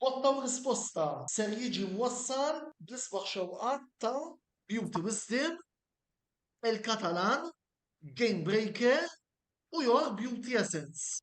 Botta u risposta ser jiġi mwassal bl-isbaħ xewqat ta' Beauty Wisdom, El Catalan, Game Breaker u Your Beauty Essence.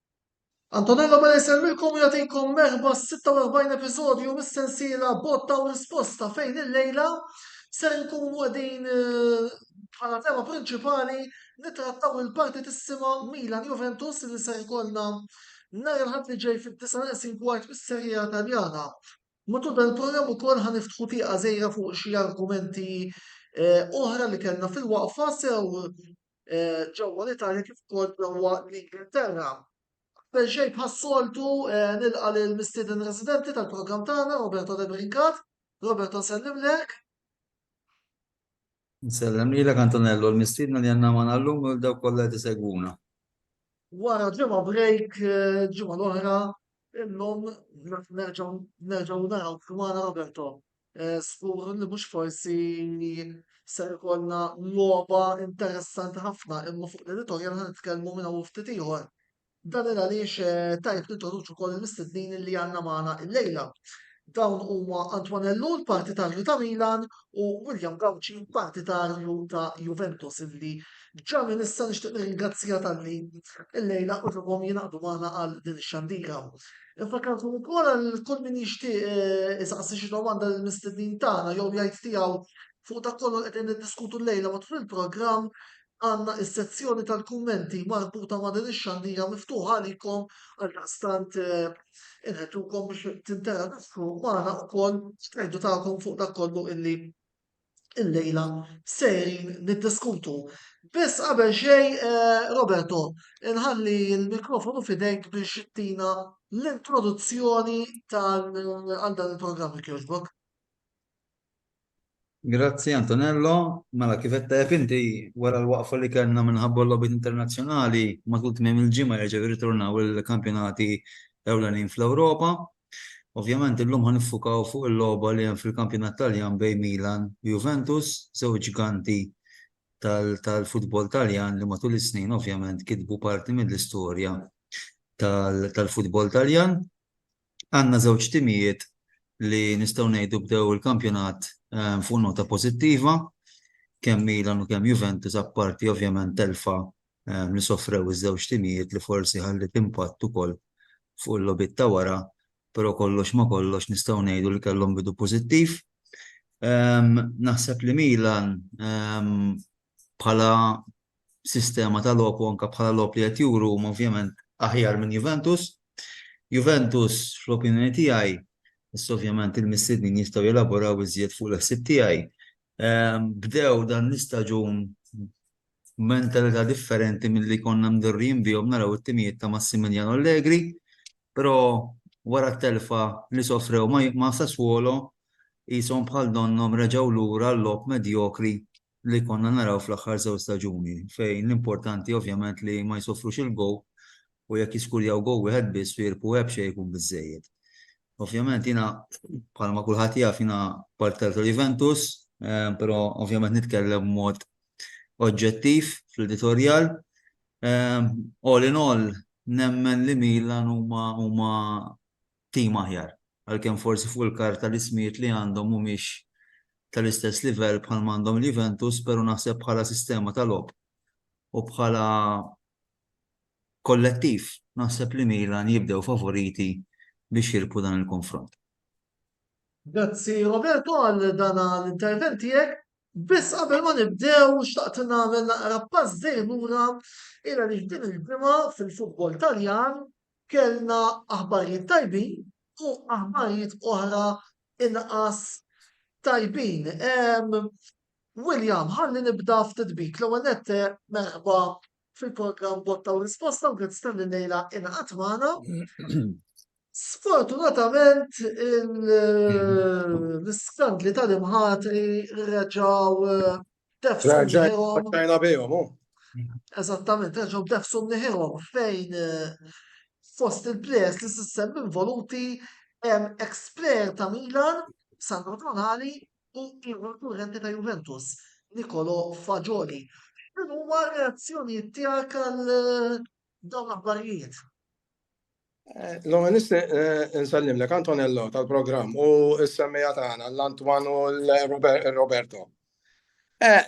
Antonello Mela jsellmilkom u jagħtikom merħba s-46 episodju mis-sensiela Botta u Risposta fejn il-lejla ser nkunu qegħdin eh, bħala tema prinċipali nitrattaw il-partitissima Milan Juventus li ser ikollna nhar il-ħadd li ġej fid-disa neqsin kwart mis-serija Taljana. Matul dan il-programm ukoll ħa niftħu tieqa żejra fuq xi argumenti eh, oħra li kellna fil-waqfa sew eh, ġewwa l-Italja kif ukoll ġewwa l-Ingilterra. Qabel xejn bħas-soltu eh, nilqa' lil mistieden residenti tal-programm tagħna Roberto De Brincat. Roberto nsellimlek. Nsellem lilek Antonello l-mistiedna li għandna magħna llum u l-daw kollha qed isegwuna. Wara ġimgħa break, ġimgħa l-oħra, illum nerġgħu naraw kmana Roberto. Skur eh, li mhux forsi se jkollna logħba interessanti ħafna imma fuq l-editorial ħan nitkellmu minn hawn ftit ieħor. Dan il għaliex eh, tajb nintroduċu wkoll il-mistednin li għandna magħna illejla. Dawn huma Antoine Ellul, partitarju ta' Milan, u William Gauci, partitarju ta' Juventus, illi ġa minn issa nixtieq nirringrazzja talli llejla użilhom jingħaqdu magħna għal din ix-xandira. Infakkarkom ukoll għal kull min jixtieq eh, isaqsi xi domanda lill mistednin tagħna jew jgħid tiegħu fuq dak kollu qegħdin niddiskutu llejla matul il-programm għandna s-sezzjoni tal-kummenti marbuta ma' din ix-xandira miftuħa għalikom għaldaqstant inħeġġukom biex tinteraġixxu magħna wkoll tgħidu tagħkom fuq dak kollu illi illejla sejrin niddiskutu. Biss qabel xejn Roberto, inħalli l-mikrofonu fidejk biex tina l-introduzzjoni tal għal dan il-programm jogħġbok. Grazzi Antonello. Mela kif qed taf inti, wara l-waqfa li kellna minħabba l-logħbiet internazzjonali, matul tmiem il-ġimgħa jerġgħu jirritornaw il-kampjonati ewlenin fl-Ewropa. Ovvjament illum ħa niffukaw fuq il-logħba li hemm fil-kampjonat Taljan bejn Milan u Juventus, żewġ ġganti tal-futbol Taljan li matul is-snin ovvjament kitbu parti mill-istorja tal-futbol Taljan. Għandna żewġ timijiet li nistgħu ngħidu bdew il-kampjonat fuq nota pożittiva, kemm Milan u kemm Juventus, apparti ovvjament telfa li sofrew iż-żewġ timijiet li forsi ħalliet impatt ukoll fuq il-logħbiet ta' wara, però kollox ma' kollox nistgħu ngħidu li kellhom bidu pożittiv. Naħseb li Milan bħala sistema ta' logħob u anke bħala logħob li qed juru huma ovvjament aħjar minn Juventus. Juventus fl-opinjoni tiegħi, issa ovvjament il-mistednin jistgħu jelaboraw iżjed fuq l-ħsieb tiegħi, ehm, bdew dan l-istaġun mentalità differenti mill-li konna mdorrijin bihom naraw it-timijiet ta' Massimiliano Allegri, però wara t-telfa li sofrew ma' Sassuolo jisom bħal donnom reġaw lura l-lok medjokri li konna naraw fl-aħħar żewġ staġuni fejn l-importanti ovvjament li ma jsofrux il-goal u jekk jiskurjaw goal wieħed biss f'Irpu Epps xejn ikun biżżejjed. Ovvjament jiena bħalma kulħadd jaf jiena parter ta' Juventus però ovvjament nitkellem b'mod oġġettiv fl-editorjal. All in all nemmen li Milan huma tim aħjar. Għalkemm forsi fuq il-karta l-ismijiet li għandhom mhumiex tal-istess livell bħalma għandhom il-Juventus, però naħseb bħala sistema ta' logħob u bħala kollettiv naħseb li Milan jibdew favoriti biex jirbħu dan il-konfront. Grazzi Roberto għal dan l-intervent tiegħek. Biss qabel ma nibdew xtaqt nagħmel naqra pass dejjem lura ira li din il-ġimgħa fil-futbol Taljan Kellna aħbarijiet tajbin u aħbarijiet oħra inqas tajbin. William, ħalli nibda ftit bik. L-ewwel nett merħba fil-programm Botta u Risposta u grazzi tal lejla inqat magħna. Sfortunatament l-iskandli tal-imħatri reġaw Ġajna bejhom, oh. Eżattament, reġgħu b'nefshom neħihom fejn eh, fost il-players li s-sistem involuti hemm ex-player ta' Milan, Sandro Tonali, u ieħor kurrenti ta' Juventus, Nikolo Fagioli. Din huma reazzjonijiet tiegħek għal eh, Dawn l-aħbarijiet. L-għanis nsallimlek Antonello tal-programm u s-semmija tagħna l-Antwan u l-Roberto.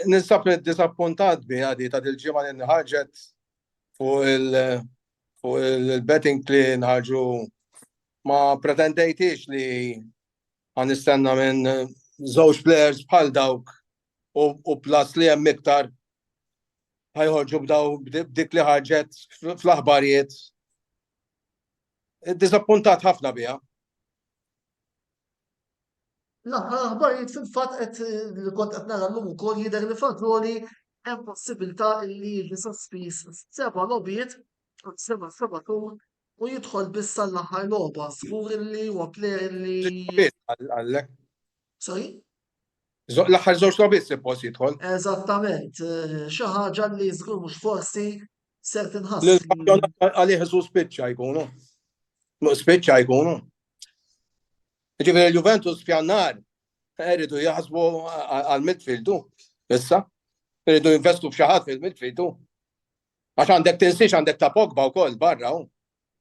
Nisab disappuntat bi għadi ta' dil-ġimgħa li nħarġet fuq il-betting li nħarġu ma pretendejtix li ħa nistenna minn żewġ players bħal dawk u plus li hemm iktar ħajħorġu b'daw b'dik li ħarġet fl-aħbarijiet. Disappuntat ħafna biha. L-aħbarijiet fil-fatt qed li kont qed nara llum ukoll jidher li fażoli hemm possibilità li jiġi sospiż seba' logħbiet seba' seba' tur u jidħol biss għall-aħħar logħba, żgur li huwa plejer li. Sorry? L-aħħar żewġ logħbiet suppost jidħol. Eżattament, xi ħaġa li żgur mhux forsi se tinħass. Għalih isu spiċċa jkunu. Spiċċa jkunu. Ġifieri Juventus f'jannar iridu jaħsbu għal midfieldu issa. Iridu jinvestu f'xi ħadd fil-midfieldu. Għax għandek tinsiex għandek ta' Pogba wkoll barra hu.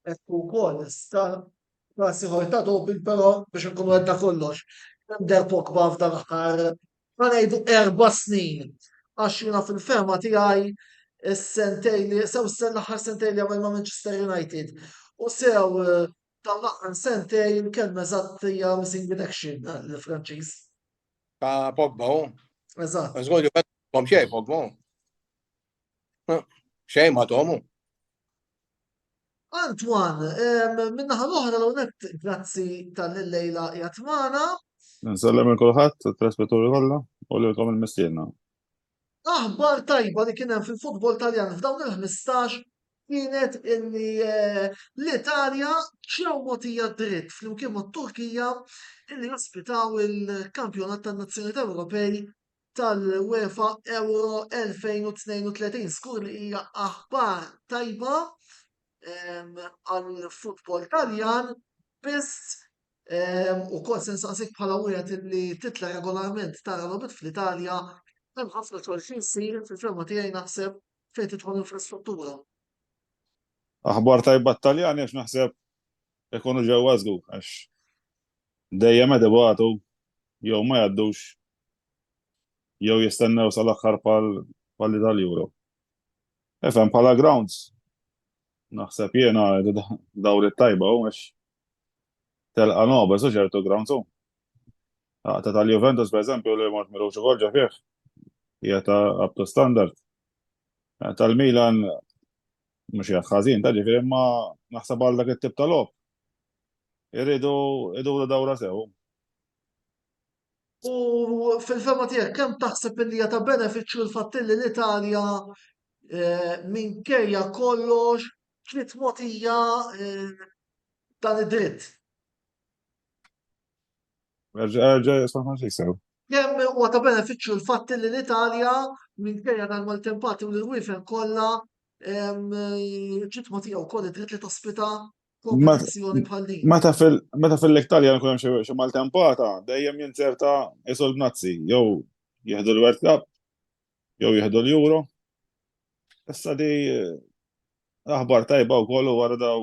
Hekk ukoll sta klassi ħorta doping però biex nkunu għedda kollox. Għandek Pogba f'dan aħħar ma ngħidu erba' snin għax jiena fil-fema tiegħi is-sentej li sew sen l-aħħar sentej li għamel ma' Manchester United. U sew eh, dan l-aħħar sentej il-kelma eżatt hija missing in action eh, l-Franċiż. Ta' Pogba hu. Eżatt. Żgur li bħom xejn Pogba hu. Xejn ma tomu. Antwan, minnaħa l-oħra l-unet, grazzi tal-lejla jatmana. Nsellem il-kulħat, t-traspetturi kollha, u l-kom il-mistiedna. Aħbar tajba li kienem fil-futbol taljan f'dawn il-15 kienet illi eh, l-Italja ġew motija dritt flimkien mat-Turkija illi jospitaw il-kampjonat tan-Nazzjonijiet Ewropej tal-UEFA Euro 2032. Skur li hija aħbar tajba għal-futbol taljan, biss u kol sensaqsik bħala wieħed li titla regolarment tara lobit fl-Italja, hemm ħafna xogħol xi jsir fil-ferma tiegħi naħseb fejn tidħol infrastruttura. Aħbar tajba t-Taljan għax naħseb ikunu ġewwa żgur għax dejjem qed ibatu jew ma jgħaddux jew jistennew sal-aħħar bħal tal-Euro. Ifhem bħala grounds naħseb jiena dawl it-tajba u għax telqa noba su ċertu grounds u. Għata tal-Juventus per eżempju li mort miru xogħol ġa fih hija ta' up to standard. Tal-Milan mhux hija ħażin ta' ġifieri imma naħseb għal dak it-tip ta' logħob. Irridu iduru dawra sew. U fil-fema tiegħek kemm taħseb li hija ta' benefiċċju l-fatt li l-Italja eh, minkejja kollox ġiet mogħtija eh, dan id-dritt? Kemm huwa ta' benefiċċju l-fatt li l-Italja minkejja dan mal-tempati u l-wifen kollha ġiet mogħtija wkoll id-dritt li tospita Meta fil-Italja nkun hemm xi maltempata, dejjem jinzerta isu l-Nazzi, jew jieħdu l-World Cup, jew jieħdu l-Euro. Issa di aħbar tajba wkoll u wara daw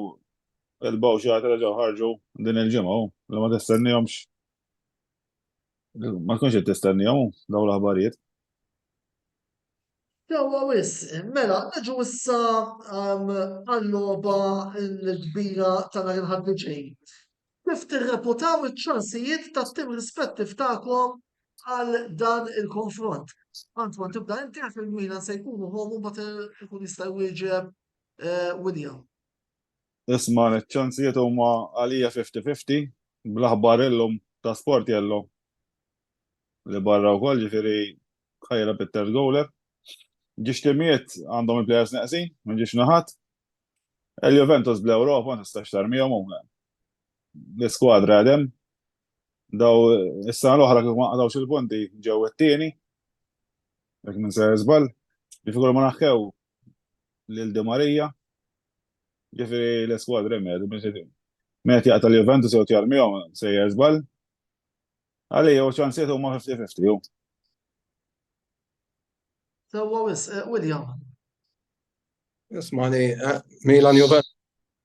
il-bawxat reġgħu ħarġu din il-ġimgħa li ma tistennihomx. Ma tkunx qed tistennihom dawn l-aħbarijiet. Sewwa wisq, mela niġu issa għal-logħba l-kbira ta' nhar il-Ħadd li ġej. Kif tirreputaw iċ-ċansijiet tat-tim rispettiv tagħkom għal dan il-konfront? Antoine tibda inti għax il-Milan se jkunu home u mbagħad ikun jista' jwieġeb William. Isma' ċ-ċansijiet huma għalija fifty-fifty bl-aħbar illum ta' Sportiello li barra wkoll ġifieri ħajra bit-third goaler. Ġiex timijiet għandhom il-players neqsin minn ġiex naħat. Il-Juventus bl-Ewropa ma tistax tarmihom huma. L-iskwadra għadem. Daw is-sena l-oħra kif ma qadgħux il-punti ġew it-tieni. Jekk minn se żball. Ġifieri kull ma naħkew lil Di Maria. Ġifieri l-iskwadra meta minn xi meta jaqta' l-Juventus jew tjar miegħu sejjer żball. Għalija u ċansiet huma 50-50 hu. Sewwa wis, eh, William. Ismani, eh, Milan Juventus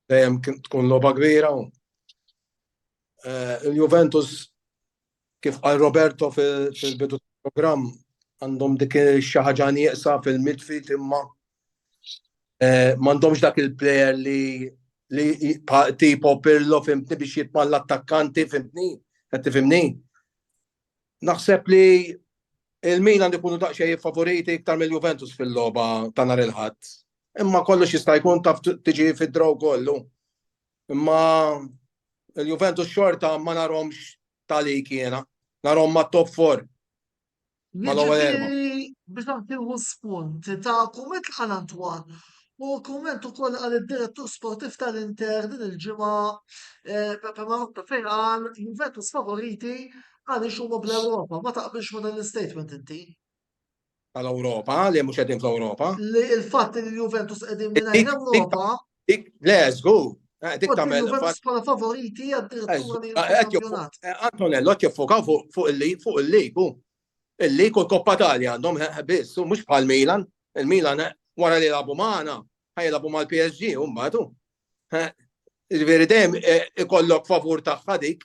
dejjem tkun logħba kbira. Eh, Il-Juventus Kif qal Roberto fil-bidu tal-programm, għandhom dik xi ħaġa nieqsa fil-midfield imma eh, m'għandhomx dak il-player li li tipo Pirlo fimtni biex jitman l-attakkanti fimtni, qed tifimni. Naħseb li il-Milan ikunu daqsxejn favoriti iktar mill-Juventus fil-logħba ta' nhar il-ħadd. Imma kollox jista' jkun taf tiġi fid-draw kollu. Imma il-Juventus xorta ma narhomx talik jiena, narhom ma' top 4. Ma l-ewwel erba'. Biex nagħtilu spunt ta' kumment għal Antoine u kumment ukoll għal id-direttur sportiv tal-Inter din il-ġimgħa Pepe Marotta fejn qal Juventus favoriti għaliex huma bl-Ewropa. Ma taqbilx ma' dan l-istatement inti? Għal Ewropa, li mhux qegħdin fl-Ewropa. Li l-fatt li l-Juventus qegħdin mingħajr Ewropa. Le, żgur. Eh, dik tagħmel. Juventus bħala favoriti għad-direttura li l-kampjonat. Eh, Antonello qed jiffokaw fuq il-lig, fuq il-lig u il-lig u l-Koppa Talja għandhom eh, biss, mhux bħal Milan. Il-Milan wara li labu magħna, ħajlabu mal-PSG u mbagħad Il-veri dejjem ikollok favur tagħha dik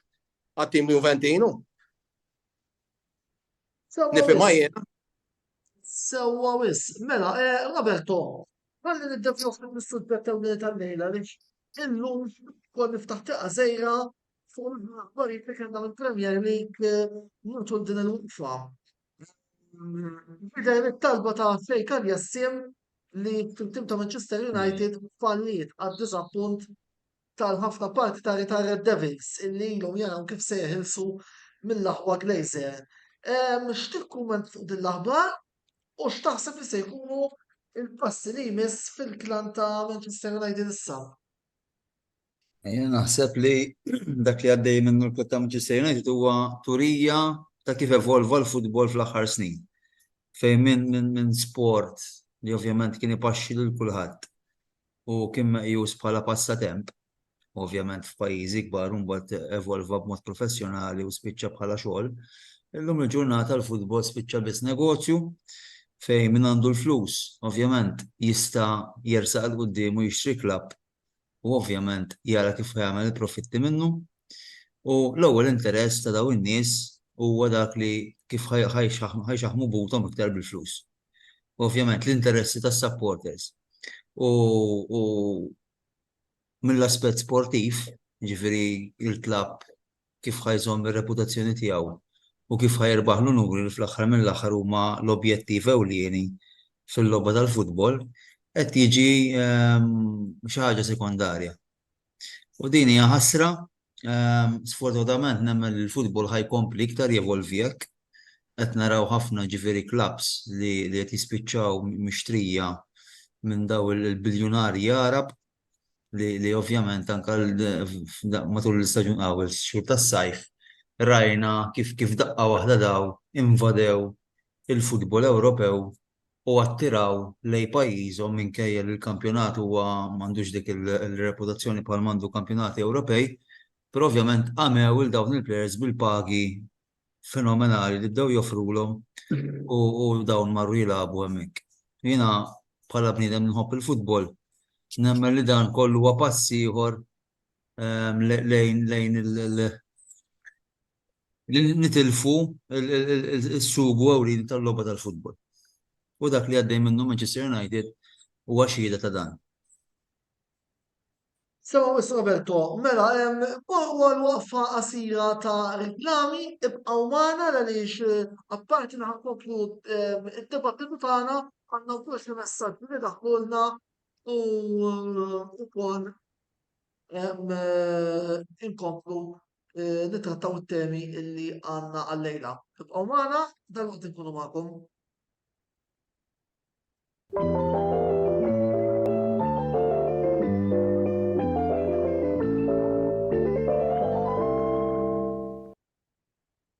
għat-tim Juventinu. Nifhimha jiena. Sewwa wis, mela, eh, Roberto, ħalli niddevjaw ftit mis-suġġett ewlieni tal-lejla li illum kol niftaħ tiqa' sejra fuq l-aħbarijiet li kellna mill-Premier League eh, mutul din il-waqfa. Bidel it-talba ta' Fejkan Jassim li tim ta' Manchester United falliet għad disa punt tal-ħafna partitari tar-Red Devils illi ilhom jaraw kif se jeħilsu mill-aħwa Glazer. Ehm, x'tikkumment fuq din l-aħbar u x'taħseb li se jkunu il-passi li jmiss fil-klan ta' Manchester United issa? Jena naħseb li dak li għaddej minnu l-kut ta' Manchester United huwa turija ta' kif evolva l-futbol fl-aħħar snin. Fejn minn min, min sport li ovvjament kien ipaxxi lil kulħadd. u kien meqjus bħala passatemp, ovvjament f'pajjiżi kbar u mbagħad evolva b'mod professjonali u spiċċa bħala xogħol, illum il-ġurnata l-futbol spiċċa biss negozju fejn min għandu l-flus, ovvjament, jista' jersaq 'l quddiem u jixtri klabb u ovvjament jara kif ħa jagħmel il-profitti minnu u l-ewwel interess ta' dawn in-nies huwa dak li kif ħa jxaħmu buthom iktar bil-flus. ovvjament l-interessi tas-supporters. U mill-aspett sportiv, jiġifieri l-klabb kif ħa jżomm ir-reputazzjoni tiegħu u kif ħa jirbaħ l-unuri li fl-aħħar mill-aħħar huma l-objettiv ewlieni fil-logħba tal-futbol, qed jiġi xi ħaġa sekondarja. U din hija ħasra, sfortunatament nemmen li l-futbol ħa jkompli iktar jevolvi hekk. Qed naraw ħafna ġifieri klabbs li qed jispiċċaw mixtrija minn dawn il-biljunarji Għarab li ovvjament anke matul l-istaġun qawwi x-xhur tas-sajf rajna kif daqqa waħda dawn invadew il-futbol Ewropew u attiraw lejn pajjiżhom minkejja li l-kampjonat huwa m'għandux dik il-reputazzjoni bħal m'għandu kampjonati Ewropej, però ovvjament għamew lil dawn il-plejers bil-pagi fenomenali li bdew joffrulhom u dawn marru jilagħbu hemmhekk. Jiena bħala bniedem nħobb il-futbol, nemmen li dan kollu huwa pass ieħor lejn li nitilfu s-sugu ewlieni tal-logħba tal-futbol. U dak li għaddej minnu Manchester United huwa xhieda ta' dan. Sewa Miss Roberto, mela hemm għal waqfa qasira ta' riklami, ibqgħu magħna għaliex apparti li ħankomplu d-dibattitu tagħna għandna wkoll xi messaġġi li daħlulna u wkoll inkomplu eh, nittrattaw it-temi illi għandna għallejla. Ibqgħu magħna, dan waqt inkunu magħkom.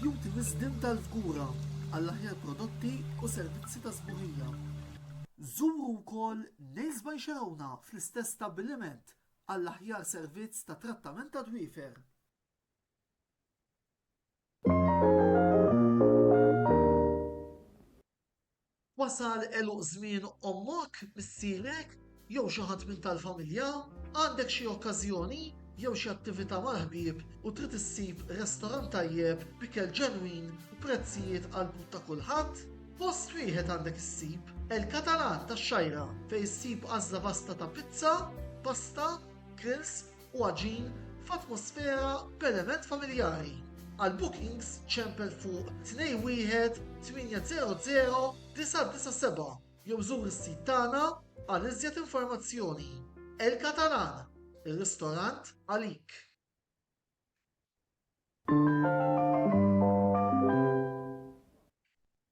Jugħti wisdien tal-fgura għall-aħjar prodotti u servizzi ta' sbuħija. Żuru wkoll Nails by Xerowna fl-istess stabbiliment għall-aħjar servizz ta' trattament tad-dwiefer. Wasal għeluq żmien ommok, missierek, jew xi ħadd minn tal-familja? Għandek xi okkażjoni jew xi attività mal-ħbieb u trid issib restorant tajjeb b'ikel ġenwin u prezzijiet għall-but ta' kulħadd? Post wieħed għandek issib, El Catalan tax-Xgħajra, fejn issib għażla vasta ta' pizza, pasta, grills, u għaġin f'atmosfera b'element familjari. Għal bookings ċempel fuq 21 800 997 jew żur is-sit tagħna għal iżjed informazzjoni. El Catalan, ir-ristorant għalik.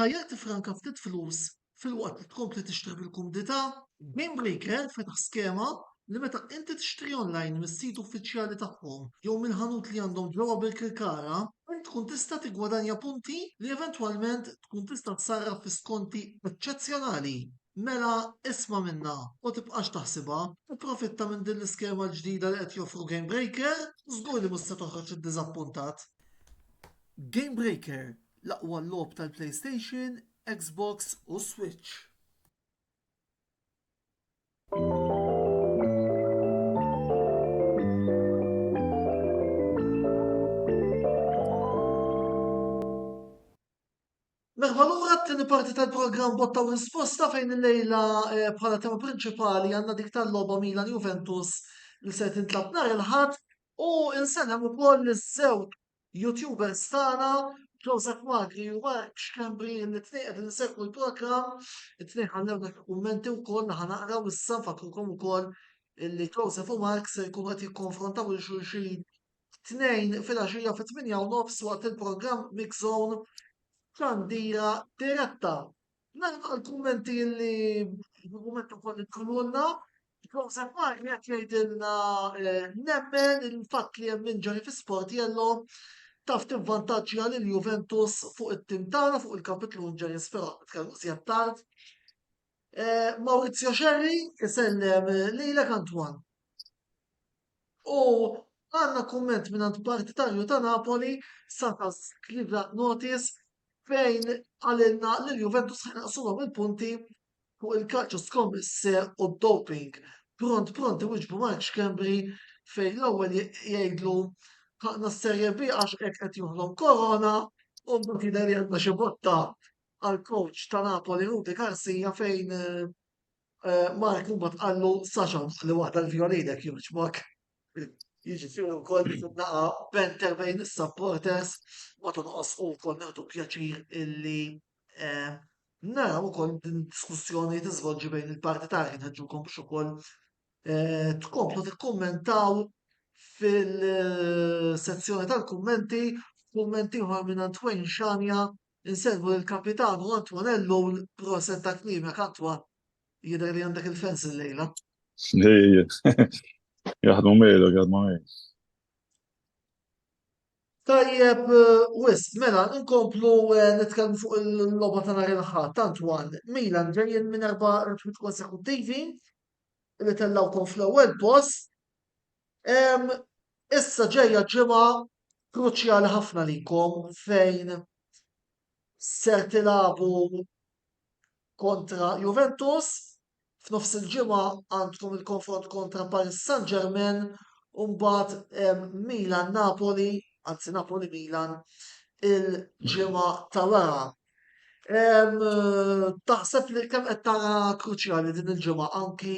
Tajjeb tifranka ftit flus filwaqt li tkompli tixtri bil-kumdità, Gamebreaker fetaħ skema li meta inti tixtri online mis-sit uffiċjali tagħhom jew mill-ħanut li għandhom ġewwa Birkirkara, int tkun tista' tiggwadanja punti li eventwalment tkun tista' ssarraf fi skonti eċċezzjonali. Mela isma' minnha u tibqax taħsibha, ipprofitta minn din l-iskema l-ġdida li qed joffru Gamebreaker, żgur li mhux se toħroġ iddiżappuntat. Gamebreaker, l-aqwa logħob tal-PlayStation, Xbox u Switch. Merħba lura t-tieni parti tal-programm Botta u Risposta fejn il-lejla eh, bħala tema prinċipali għandna dik tal-logħba Milan Juventus li se tintlab nhar il-ħadd u insellem ukoll iż-żewġ YouTubers tagħna Joseph Magri u Mark Xkembri li tnejn qed insegwu l-programm, it-tnejn ħallew dak kummenti wkoll naħa naqraw issa nfakrukom ukoll illi Joseph u Mark se jkunu qed jikkonfrontaw il xulxin t-Tnejn filgħaxija fit-tmienja u nofs waqt il-programm Mix Zone xandira diretta. Nagħlaq il-kummenti li l-kumment ukoll li tkunulna. Joseph Mark qed jgħidilna eh, nemmen il-fatt li hemm inġari fi Sportiello taf tivvantaġġja lil Juventus fuq it-tim tagħna fuq il-kapitlu Injuries però nitkellmu żjed tard. Eh, Maurizio Xerri isellem lilek Antwan. U għandna kumment mingħand partitarju ta' Napoli, Satas Cleveland Notice, fejn qalilna li l-Juventus ħa jnaqqsulhom il-punti fuq il-calcio scommesse u d-doping. Pront pront iwiġbu Mark Schembri fejn l-ewwel jgħidlu ħaqna s-Serie B għax hekk qed joħlom korona u mbagħad jidher li għandna xi botta għall-coach ta' Napoli Rudy Garcia fejn Eh, Mark u bat għallu saċan li waqta l-violinek juġbok. Jiġifieri wkoll naqa benter bejn is-supporters ma tonqos u wkoll neħdu pjaċir illi eh, naraw ukoll din diskussjoni tiżvolġi bejn il-partitari nħeġġukom biex ukoll eh, tkomplu tikkummentaw fil-sezzjoni tal-kummenti kummenti oħra minn Antwen Xanja Insellmu lil Kapitanu Antuanello u proset ta' kmimek Antwa, jidher li għandek il-fans illejla. Jaħdmu miegħlek, jaħdmu miegħi. Tajjeb wisq, mela nkomplu nitkellmu fuq il-logħba ta' nhar il-Ħadd, Antwan, Milan ġejjin minn erba' rebħiet konsekuttivi li tellgħukom fl-ewwel post, Issa ġejja ġimgħa kruċjali ħafna likom fejn ser tilabu kontra Juventus, f'nofs il-ġimgħa għandkom il-konfront kontra Paris Saint-Germain u mbagħad Milan Napoli, anzi Napoli Milan il-ġimgħa ta' wara. Taħseb li kemm qed tara kruċjali din il-ġimgħa anki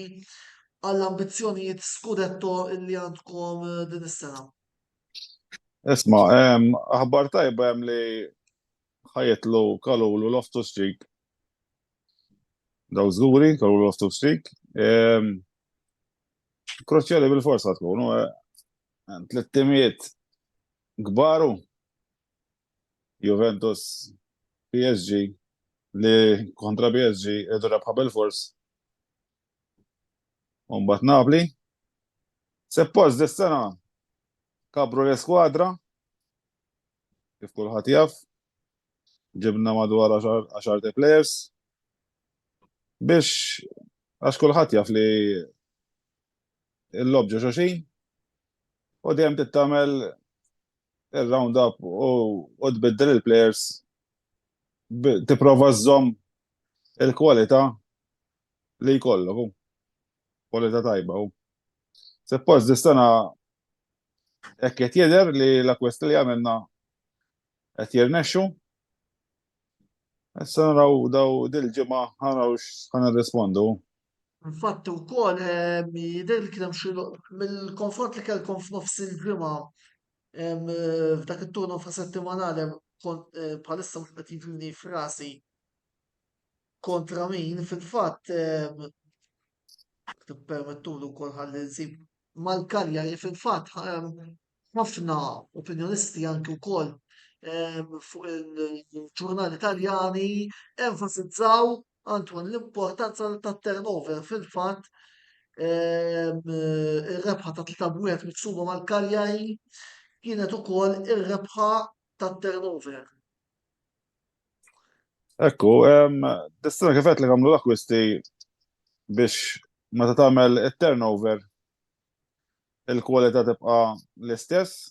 għall-ambizzjonijiet skudetto li għandkom eh, din is-sena? Isma, aħbar tajba hemm li ħajetlu kalulu loftu strik. Daw żguri, kalulu loftu strik. Kruċjali bil-forsa tkunu, eh, tlittimiet gbaru Juventus, PSG, li kontra PSG irdu rebħa bil-fors. Umbat Napli. Seppost dis-sena kabru l-eskwadra, kif kulħadd jaf, ġibna madwar 10 players biex għax kulħadd jaf li l-lob ġo xoxin u dejjem tittamel il-round up u tbiddel il-players tipprova żżomm il-kwalità li jkollok u kwalità tajba u. Seppost dis-sena hekk qed jidher li l-akkwist li għamilna qed jirnexxu. Issa naraw daw dil-ġimgħa naraw x'ħa nirrispondu. Infatt ukoll jidher li kien hemm xi mill-konfront li kellkom f'nofs il-ġimgħa f'dak it-turno fa' settimanali bħalissa mhux qed jiġini f'rasi kontra min fil-fatt tippermettuli wkoll ħalli nsib mal-Cagliari fil-fatt ħafna opinjonisti anki wkoll fuq il-ġurnali Taljani enfasizzaw Antoine, l-importanza tat-turnover fil-fatt ehm, ir-rebħa ta' tlita bwiet miksuba mal-Kaljari kienet ukoll ir-rebħa tat-turnover. Ekku, ehm, distina kifet li għamlu l-akwisti biex ma ta' tagħmel it-turnover il-kwalità tibqa' l-istess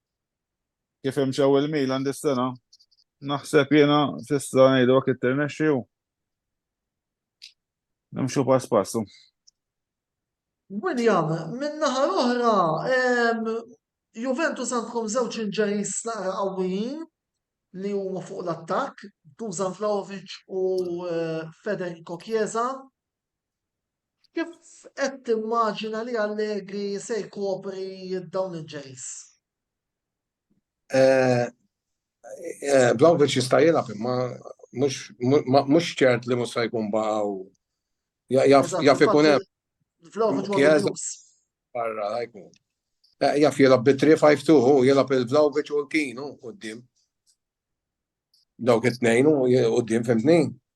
Kif imxew il-Milan dis-sena? Naħseb jiena fissa ngħidu għak it-tirnexxi u nimxu pass passu. William, minn naħa l-oħra, Juventus għandkom żewġ inġeris naqra qawwijin li huma fuq l-attakk, Dusan Vlaovic u eh, Federico Chiesa. Kif qed timmaġina li Allegri se jkopri dawn il-ġeries? Vlahovic jista' jilgħab imma mhux ċert li mhux se jkun baqgħu jaf ikun hemm. Vlahovic ma jkunx. Barra jkun. Jaf jilgħab bi 3-5-2 hu jilgħab il-Vlahovic u l-Kinu quddiem. Dawk it-tnejn u quddiem fimtni.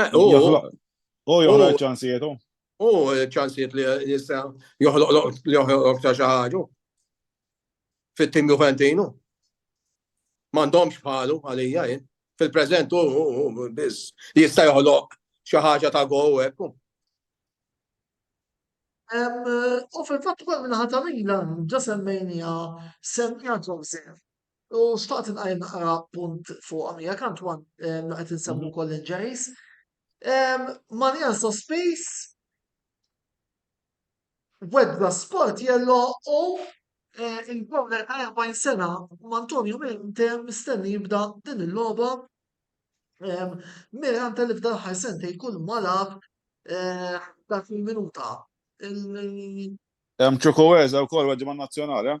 Eh, u joħloq ċansijiet u. U ċansijiet li jista' joħloq li joħloq ta' xi ħaġa. Fit-tim Juventinu. M'għandhomx bħalu għalija jien. Fil-preżent u biss jista' joħloq xi ħaġa ta' gow hekk. U fil-fatt ukoll minnaħa ta' Milan, ġa semmejnija semmija Joseph. U xtaqt inqajjem naqra punt fuqha miegħek Antwan li qed insemmu mhm. wkoll injuries. Mania Sospis wedda sport jello u eh, il-bowler ta' 40 sena Antonio Mente mistenni jibda din il-logħba Mira għanta li f'dan ħar sentej kull malab eh, dak il-minuta. Hemm ċukuweza wkoll għaddi man nazzjonali. Eh?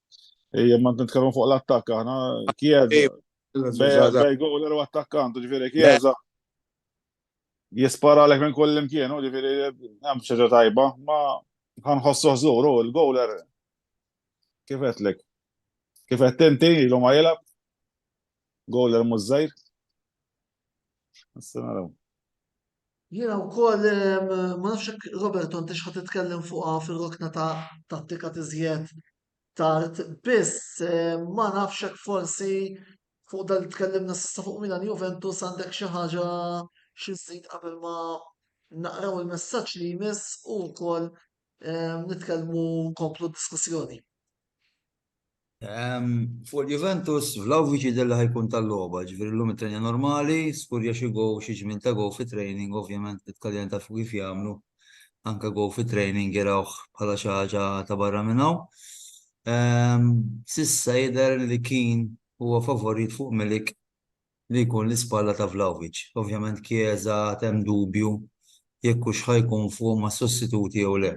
Ejja, ma nitkellmu fuq l-attakk aħna, Chiesa. Bej goler u attakkant, ġifieri Chiesa. Jispara lek minn kull imkien, ġifieri hemm xi tajba, ma ħanħossu ħżur u l-goler kif qedlek. Kif qed tinti ilu ma jilgħab. Gola l-mużżajr? Nista naraw. Jena u koll, ma nafxek Robert, għant xħat titkellem fuqa fil-rokna ta' tattika tizjed tard, biss ma nafxek forsi fuq dal tkellimna sissa fuq Milan Juventus għandek xi ħaġa xi żid qabel ma naqraw il-messaġġ li jmiss u wkoll nitkellmu nkomplu diskussjoni. Fuq Juventus, Vlahovic jidher li ħa jkun tal-logħba, ġifieri llum ittrenja normali, skurja xi goal, xi ġmien ta' goal fit-training, ovvjament it-Taljan tafu kif jagħmlu, anke goal fit-training jarawh bħala xi ħaġa ta' barra minn hawn. S'issa jidher li Keane huwa favorit fuq Milik li jkun l-ispalla ta' Vlahovic. Ovvjament Chiesa għad hemm dubju jekk hux ħa jkun fuq mas-sostituti jew le.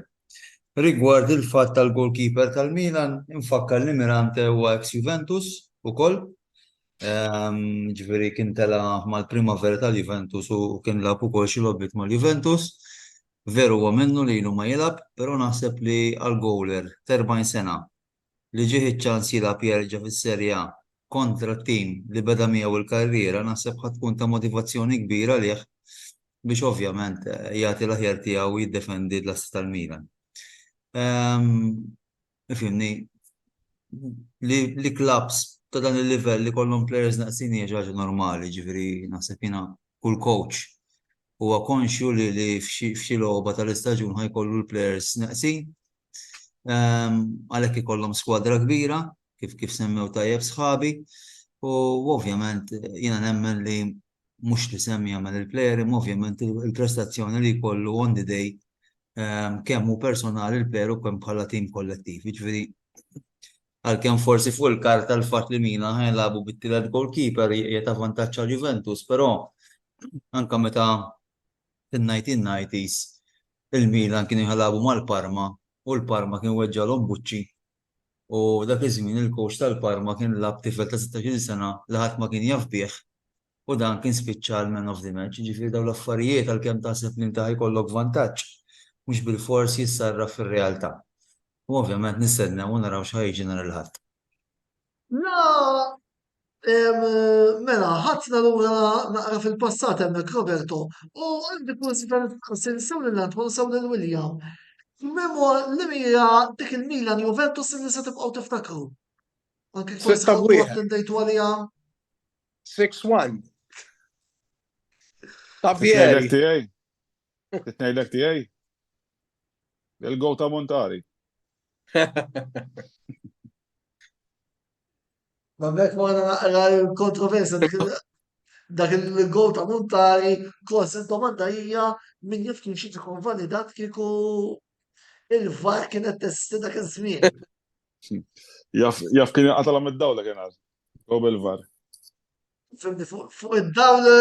Rigward il-fatt tal-goalkeeper tal-Milan, infakkar li Mirante huwa eks Juventus ukoll, jiġifieri kien tela' mal-Primavera tal-Juventus u kien lagħab ukoll xi logħbiet mal-Juventus. Veru huwa minnu li ilu ma jilgħab, però naħseb li għall-goaler t'erbgħin sena li ġieh iċ-ċans jilgħab jerġa' fis-Serie A kontra t-tim li beda miegħu l-karriera naħseb ħa tkun ta' motivazzjoni kbira għalih biex ovvjament jagħti l-aħjar tiegħu u jiddefendi l-assi tal-Milan. Ifhimni, li klabbs ta' dan il-livell li kollhom plejers naqsin hija xi ħaġa normali, ġifieri naħseb jiena kull coach huwa konxju li f'xi logħba tal-istaġun ħa jkollu l-plejers naqsin Għalhekk ikollhom skwadra kbira, kif kif semmew tajjeb sħabi, u ovvjament jiena nemmen li mhux l-isem jagħmel il-plejer, imma ovvjament il-prestazzjoni li jkollu on the day kemm hu personali l-plejer u kemm bħala tim kollettiv. Jiġifieri għalkemm forsi fuq il-karta l-fatt li Milan ħa jilagħbu bit-tielet goalkeeper hija ta' vantaġġ għal Juventus, però anke meta Fin-1990s il-Milan kienu jilagħbu mal-Parma u l-Parma kien weġġagħlhom buċċi u dak iż-żmien il-coach tal-Parma kien lagħab tifel ta' sittax-il sena li ħadd ma kien jaf bih u dan kien spiċċa l-man of the match. Jiġifieri dawn l-affarijiet għalkemm taħseb li inti ħa jkollok vantaġġ mhux bilfors jissarraf fir-realtà. U ovvjament nistennew u naraw x'ħa jiġri nhar il-Ħadd. La Mela, ħadna lura naqra fil-passat hemmhekk Roberto, u għandi kursita nistaqsil sew lil Anton sew lil William. Memo li mira dik il-Milan Juventus li se tibqgħu tiftakru. Anke forsi attendejtu għalija. 6-1. Titnejlek tiegħi. Titnejlek tiegħi. Il-go ta' Montari. Għamek ma għana naqra l-kontroversa dak il-gol ta' Montari, kos il-domanda hija min jaf kien xieġi kun validat kieku il-var kienet testi dak iż-żmien. Jaf kien għatala mid-dawla kien għal, gob il-var. Fimni fuq id-dawla,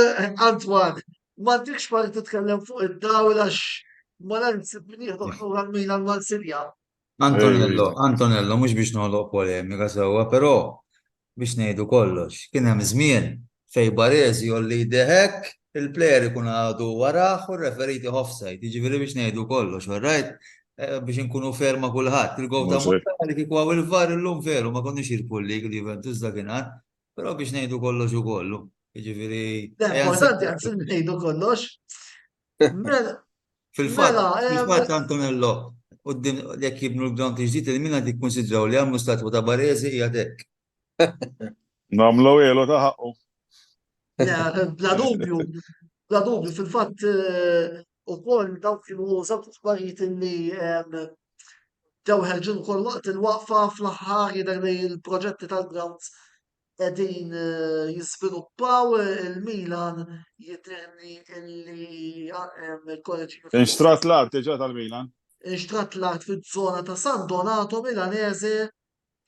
Antwan, ma dikx parti titkellem fuq id-dawla x ma l-għansib minn jieħdu għal-Milan mal-Sirja. Antonello, Antonello, mhux biex noħloq polemika sewwa, però biex ngħidu kollox, kien hemm żmien fejn Baresi jolli jdeh hekk, il-player ikun għadu warah u r-referee jtih offside, jiġifieri biex ngħidu kollox, all right? Biex inkunu fair ma' kulħadd. Il-gowl ta' Montale kieku hawn il-VAR illum veru ma konniex irbħu l-league l-Juventus dakinhar, però biex ngħidu kollox u kollu, jiġifieri. Le importanti anzi li ngħidu kollox. Fil-fatt, mela, eh, fil-fatt Antonello, u d-din jek jibnu l-ground iġdijt, il-min għad jikkonsidraw li għamlu statwa ta' barezi jgħadek. Namlu jelu ta' ħakku. Bla dubju, bla dubju, fil-fatt eh, u koll daw kienu użat uħbarijiet li ġew ħerġin koll waqt il-waqfa fl-ħar jidher li l-proġetti tal-grounds qegħdin jiżviluppaw il-Milan jidhirli li il-College Unified. Inxtrat l-art diġà tal-Milan? Inxtrat l-art fiż-żona ta' San Donato Milanese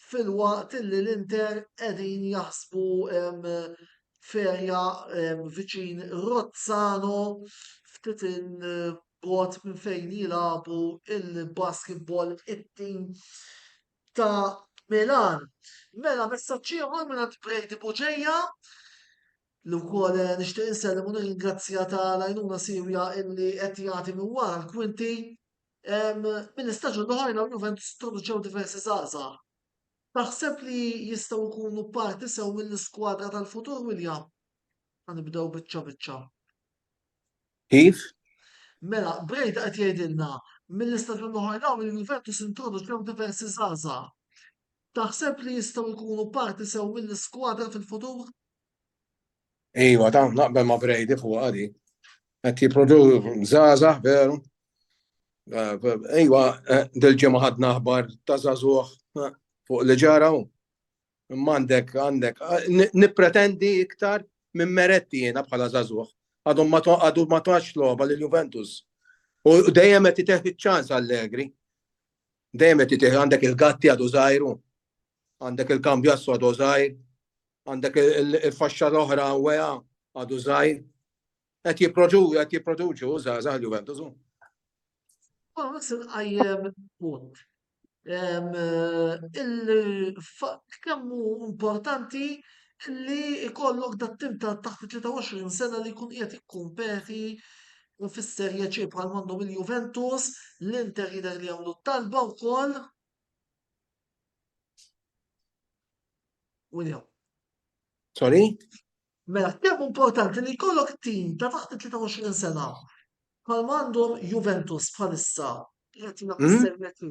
filwaqt li l-Inter qegħdin jaħsbu ferja viċin Rozzano ftit il-bogħod minn fejn jilagħbu il-basketball it-tim ta' Milan. Mela messaġġ ieħor mingħand Brady Buġeja li wkoll eh, nixtieq insellem u nirringrazzja ta' l-għajnuna siwja illi qed jagħti minn wara l-kwinti. Minn istaġun l-oħrajn għal Juventus introduċew diversi żgħażagħ. Taħseb li jistgħu jkunu parti sew mill-iskwadra tal-futur William? Għanibdew biċċa biċċa. Kif? Mela, Breda qed jgħidilna mill-istaġun li ħa dawn li l-Juventus introduċew diversi żgħażagħ. Taħseb li jistgħu jkunu parti sew mill-iskwadra fil-futur? Iva, ta' naqbel ma' Brady fuq għadi. Qed jipprodu żgħażagħ veru. Iva, dil-ġimgħa ħadna aħbar ta' żagħżugħ fuq li ġaraw. Imma għandek, għandek, nipretendi iktar minn meretti jena bħala zazuħ. Għadhom ma għadu ma tax loba li Juventus. U dejjem qed titeħ iċ-ċans Allegri. Dejjem qed titeħ għandek il-gatti għadu żgħiru. Għandek il-kambju għassu għadu żgħir. Għandek il-faxxa l-oħra għadu żgħir. Qed jipproduċu żgħażagħ il-Juventus hu. Forsi tqajjem punt. Il-fatt kemm hu importanti li jkollok dat tim ta' taħt 23 sena li jkun qiegħed jikkumpeti fis-Serje C bħal m'għandhom il-Juventus, l-Inter jidher li jagħmlu talba wkoll. William. Sorry? Mela, kemm importanti li jkollok tim ta' taħt it-23 sena bħalma għandhom Juventus bħalissa li qed jilgħab is-Serie C.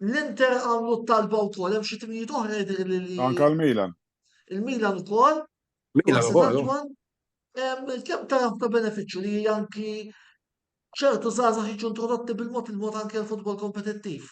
L-Inter għamlu t-talba wkoll, hemm xi timijiet oħra jidhirli li. Anke l-Milan. Il-Milan ukoll. Milan ukoll. Kemm taraf ta' benefiċċju li anki ċertu żgħażagħ jiġu introdotti bil-mod il-mod anke l-futbol kompetittiv.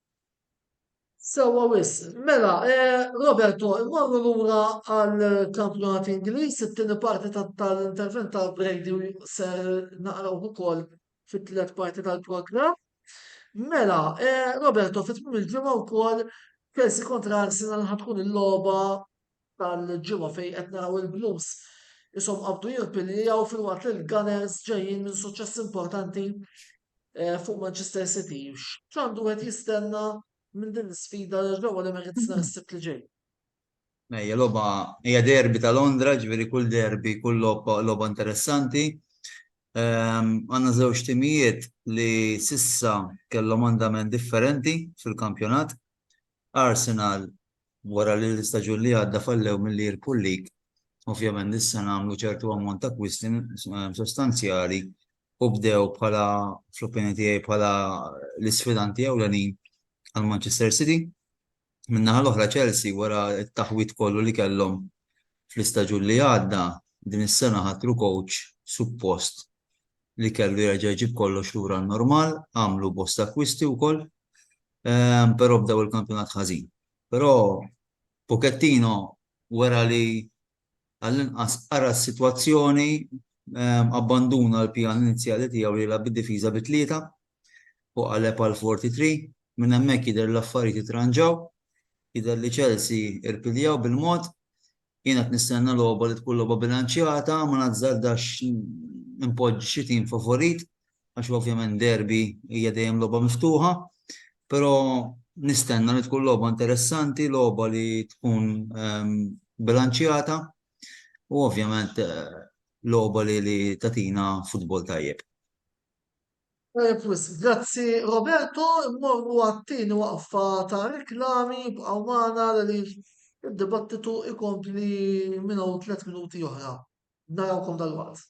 Sewwa wisq. Mela, Roberto, immorru lura għall-kampjonat Ingliż, it-tieni parti tal-intervent ta' Brady ser naqrawh ukoll fit-tliet parti tal-programm. Mela, Roberto, fit-tmiem il-ġimgħa wkoll Chelsea kontra Arsenal ħatkun il-logħba tal-ġimgħa fejn qed naraw il-Blues ishom qabdu jirpiljaw filwaqt li l-Gunners ġejjin minn suċċess importanti eh, fuq Manchester City. X'għandu qed jistenna minn din l-sfida ġewwa l-Emirates nhar is-Sibt li ġej? Ejja, loba, hija derbi ta' Londra, ġveri kull derbi, kull loba interessanti. Ehm, għanna żewġ timijiet li sissa kellhom andament differenti fil-kampjonat, Arsenal wara li l-istaġun li għadda fallew milli jirbħu l-League, ovvjament dis-sena għamlu ċertu ammont ta' kwisti sostanzjali u bdew bħala, fl-opinjoni tiegħi, bħala l-isfidanti ewlenin għal Manchester City. Min-naħa l-oħra Chelsea wara t-taħwid kollu li kellhom fl-istaġun li għadda, din is-sena ħatru kowċ suppost li kellu jerġa' jġib kollox lura n-normal, għamlu bosta kwisti wkoll. Però bdew il-kampjonat ħażin. Però Pochettino wera li għall-inqas qara s-sitwazzjoni, abbanduna l-pjan inizjali tiegħu li jilgħab bid-difiża bi tlieta u qaleb għal four three three. Minn hemmhekk jidher li l-affarijiet ittranġaw. Jidher li Chelsea irpiljaw bil-mod Jien qed nistenna logħba li tkun logħba bilanċjata, ma nazzardax inpoġġi xi tim favorit għax ovvjament derby hija dejjem logħba miftuħa, però nistenna li tkun logħba interessanti, logħba li tkun bilanċjata u ovvjament logħba li tagħtina futbol tajjeb. Tajjeb wisq, grazzi Roberto, immorru għat-tieni waqfa ta' reklami, bqgħu magħna għaliex id-dibattitu ikompli minn hawn tliet minuti oħra. Narawkom dalwaqt.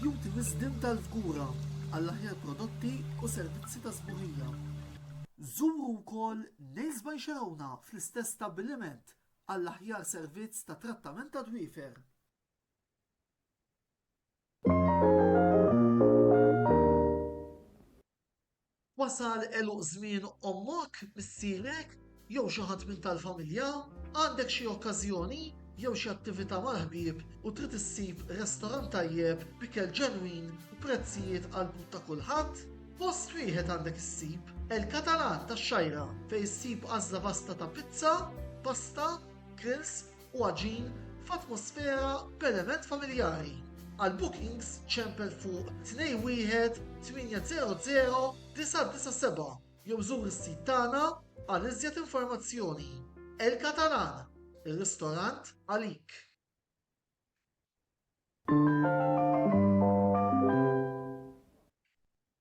Jugħti wisdien tal-fgura għall-aħjar prodotti u servizzi ta' sbuħija. Żuru wkoll Nails by Xerowna fl-istess stabbiliment għall-aħjar servizz ta' trattament tad-dwiefer. Wasal għeluq żmien ommok, missierek, jew xi ħadd minn tal-familja? Għandek xi okkażjoni jew xi attività mal-ħbieb u trid issib restorant tajjeb b'ikel ġenwin u prezzijiet għall-but ta' kulħadd? Post wieħed għandek issib, El Catalan tax-Xgħajra, fejn issib għażla vasta ta' pizza, pasta, grills, u għaġin f'atmosfera b'element familjari. Għal bookings ċempel fuq 21 800 997 jew żur is-sit tagħna għal iżjed informazzjoni. El Catalan, ir-ristorant għalik.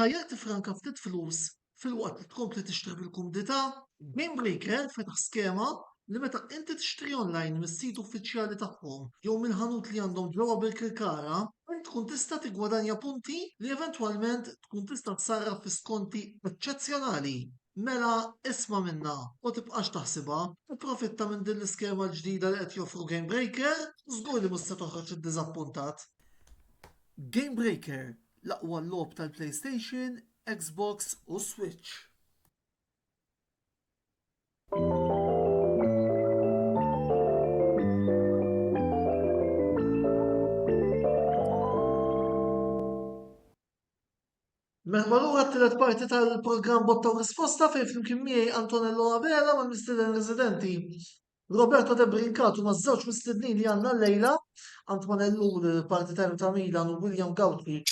Tajjeb tifranka ftit flus filwaqt li tkompli tixtri bil-kumdità, Gamebreaker fetaħ skema li meta inti tixtri online mis-sit uffiċjali tagħhom jew mill-ħanut li għandhom ġewwa Birkirkara, int tkun tista' tiggwadanja punti li eventwalment tkun tista' ssarraf fi skonti eċċezzjonali. Mela isma' minnha u tibqax taħsibha, ipprofitta minn din l-iskema l-ġdida li qed joffru Gamebreaker, żgur li mhux se toħroġ iddiżappuntat. Gamebreaker, l-aqwa logħob tal-PlayStation, Xbox u Switch. Merħba lura t-tielet parti tal-programm Botta u Risposta fejn flimkien miegħi Antonello Abela mal-mistieden residenti Roberto De Brincatu ma' żewġ mistednin li għandna llejla Antonello l-partitarju ta' Milan u William Gawtri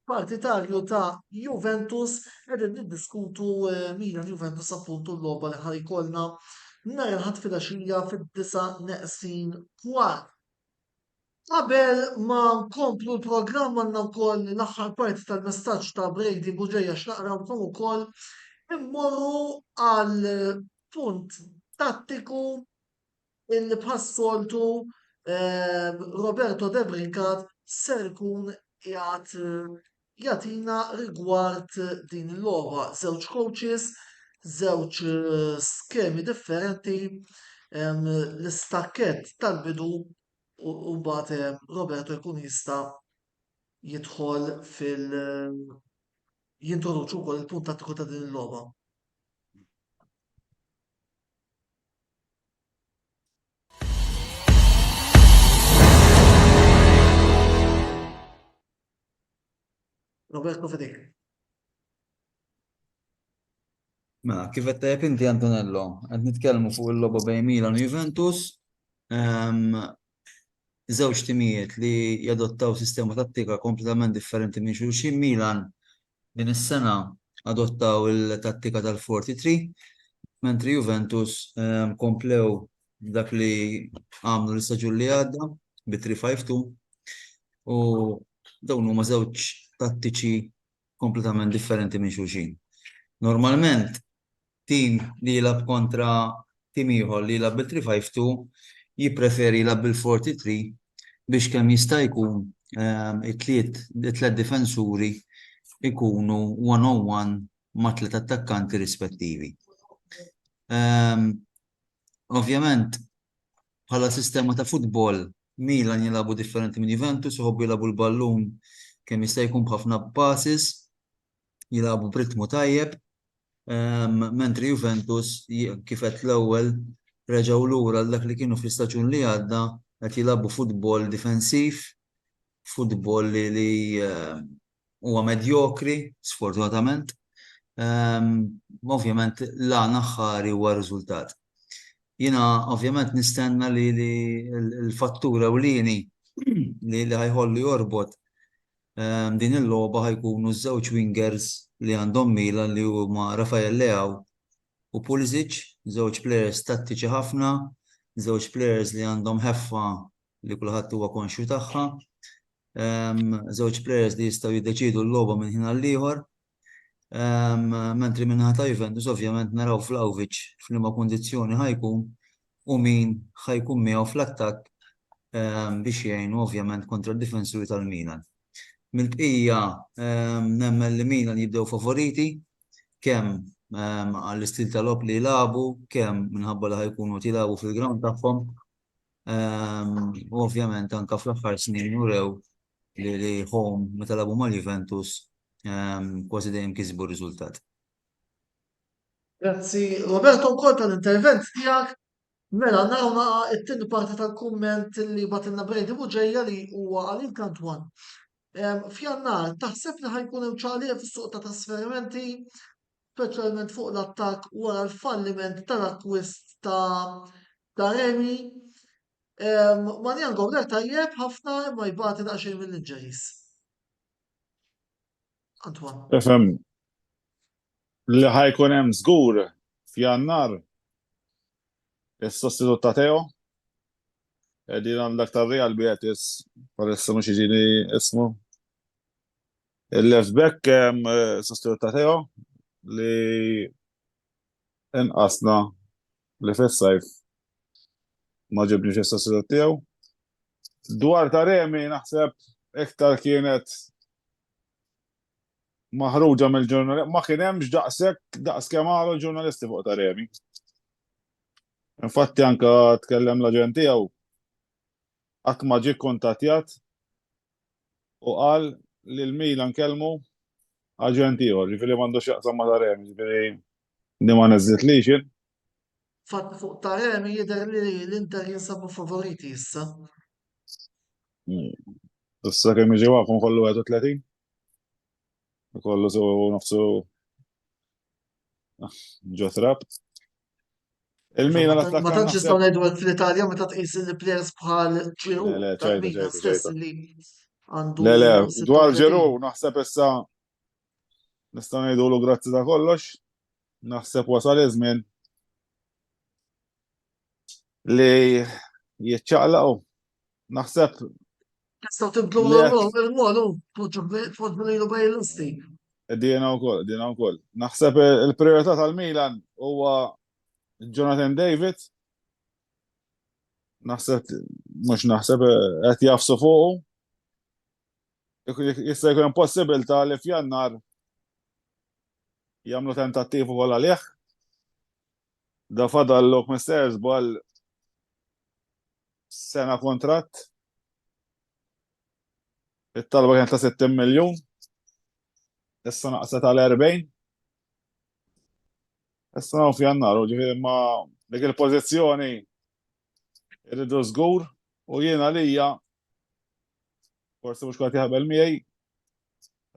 partitarju ta' Juventus qegħdin niddiskutu eh, Milan Juventus appuntu l-logħba li ħar ikollna nhar il-Ħadd filgħaxija fid-disa' neqsin kwart. Qabel ma nkomplu l-programm għandna wkoll l-aħħar parti tal-messaġġ ta' Brady Bugeja x'naqrawlkom ukoll. Immorru għal punt tattiku illi bħas-soltu ehm, Roberto De Brincat ser ikun qiegħed jagħtina rigward din il-logħba. Żewġ coaches, żewġ eh, skemi differenti, ehm, l-istakket tal-bidu u mbagħad Roberto jkun jista' jidħol fil jintroduċu wkoll il-punt tattiku ta' din il-logħba. Roberto Fedek. Mela, kif qed tajjeb inti Antonello, qed nitkellmu fuq il-logħba bejn Milan u Juventus. Żewġ timijiet li jadottaw sistema tattika kompletament differenti minn xulxin. Milan din is-sena adottaw il-tattika tal-forty three, mentri Juventus komplew b'dak li għamlu l-istaġun li għadda bi three five two. U dawn huma żewġ tattiċi kompletament differenti minn xulxin. Normalment, tim li jilgħab kontra tim ieħor li jilgħab bil-3-5-2 jippreferi jilgħab bil-4-3 biex kemm jista' jkun ehm, it-tliet difensuri ikunu one-on-one ma' tliet attakkanti rispettivi. Ehm, ovvjament, bħala sistema ta' futbol Milan jilagħbu differenti minn Juventus, iħobbu jilagħbu l-ballun kemm jista' jkun b'ħafna passes, jilagħbu b'ritmu tajjeb, ehm, mentri Juventus kif qed l-ewwel reġgħu lura għal dak li kienu fl-istaġun li għadda qed jilagħbu futbol difensiv, futbol li ehm, huwa medjokri, sfortunatament. Ovvjament l-għan aħħari huwa r-riżultat. Jiena ovvjament nistenna li l-fattur ewlieni li ħa jħollu jorbot din il-logħba ħa jkunu ż-żewġ wingers li għandhom Milan li huma Rafael Leao u Pulisic, żewġ plejers tattiċi ħafna, żewġ plejers li għandhom ħeffa li kulħadd huwa konxju tagħha. Żewġ players li jistgħu jiddeċidu l-logħba minn ħin għall-ieħor. Mentri minnaħa ta' Juventus ovvjament naraw Vlahovic f'liema kundizzjoni ħajkun u min ħajkun miegħu fl-attakk biex jgħinu ovvjament kontra d-difensuri tal-Milan. Mill-bqija nemmen li Milan jibdew favoriti kemm għall-istil tal-logħob li jilagħbu, kemm minħabba li ħajkunu qed jilagħbu fil-ground tagħhom. U ovvjament anke fl-aħħar snin urew li li home meta lagħbu mal-Juventus kważi dejjem kisbu r-riżultat. Grazzi Roberto wkoll tal-intervent tiegħek. Mela naraw naqa' it-tieni parti tal-kumment li bagħtilna Brady Buġeja li huwa għalik Antoine. F'Jannar taħseb li ħajkun hemm ċaqliq fis-suq ta' trasferimenti speċjalment fuq l-attakk wara l-falliment tal-akkwist ta' Taremi. Manjan Goulet tajjeb ħafna imma jbati daqsxejn mill-injuries. Antoine. Efem, li ħajkun hemm żgur f'Jannar is-sostitut ta' Teo. Qegħdin għandek tar-Real Betis, palissa mhux jiġini ismu. Il-left back sostitut ta' Teo li inqasna li fis-sajf ma ġibniex is-sostitut tiegħu. Dwar ta' Remi naħseb iktar kienet maħruġa mill-ġurnalisti, ma kien hemmx daqshekk daqs kemm għalu ġurnalisti fuq ta' Remi. Infatti anke tkellem l-aġent tiegħu qatt ma ġie kkuntattjat u qal li l-Milan kellmu aġent ieħor, jiġifieri m'għandux x'jaqsam ma' Taremi, jiġifieri din ma neżżitlix jien. Fatt fuq Taremi jidher li l-Inter jinsabu favoriti issa. Issa kemm jiġi waqfu nkollu 31? Ikollu sew nofsu ġo trap. Il-Milan attakka. Ma tantx nistgħu ngħidu hekk fl-Italja meta tqis il-players bħal Ġiru. Le, ċajda, ċajda, ċajda. Le, le, dwar Ġiru naħseb issa nistgħu ngħidulu grazzi ta' kollox. Naħseb wasal iż-żmien li jiċċaqlaqu Naħseb. Tista' tibdu l-għol, tfodbunilu bej l-isti. Dina u koll, dina u koll. Naħseb il-priorità tal-Milan huwa Jonathan David. Naħseb, mux naħseb, għet jafsu fuqu. Jista' jkun possibilità li f'jannar jamlu tentattivu għal għalih. Da fadal l-ok misters bħal Sena kontratt. It-talba kienet ta' 60 miljun. Issa naqset għal 40. Issa naw f'jannar, u ġifiri ma dik il-pozizjoni irridu żgur u jiena lija forsi mhux kont jaħbel miegħi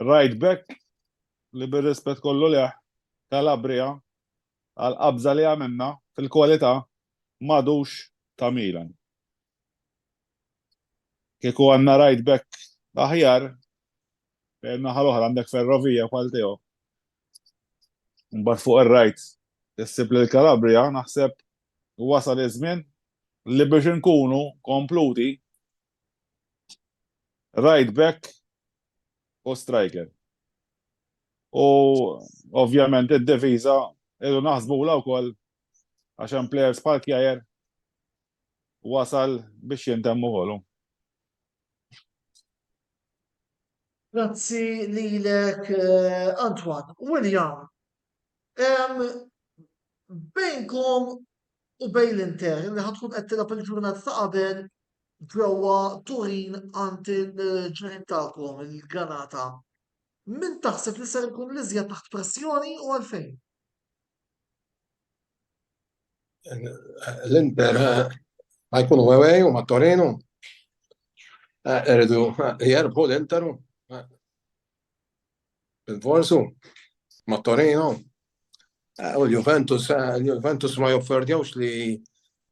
right back li bir-rispett kollu leħ Calabria għall-qabża li għamilna fil-kwalità m'għadux ta' Milan. Kieku għandna right back aħjar, fejn in-naħa l-oħra għandek Ferrovia bħal tiegħu, imbagħad fuq ir-right issib lil Calabria, naħseb wasal iż-żmien li biex inkunu kompluti Right back u striker. U ovvjament id-deviza irru naħsbu la wkoll għax hemm players bħal kjajer wasal biex jintemmu ħolu. Grazzi lilek eh, Antoine. William, bejnkom u bejn l-Inter li ħad tkun qed tilgħab il-ġurnata ta' qabel ġewwa Turin għand il-ġirien tagħkom il-Granata. Min taħseb li ser ikun l-iżjed taħt pressjoni u għalfejn? L-Inter ħajkunu eh, għewej u ma' Torino. Eridu eh, eh, jerbu l-Interu. Il-Vorsu, ma' Torino, eh, u l-Juventus, eh, l-Juventus ma jofferdjawx li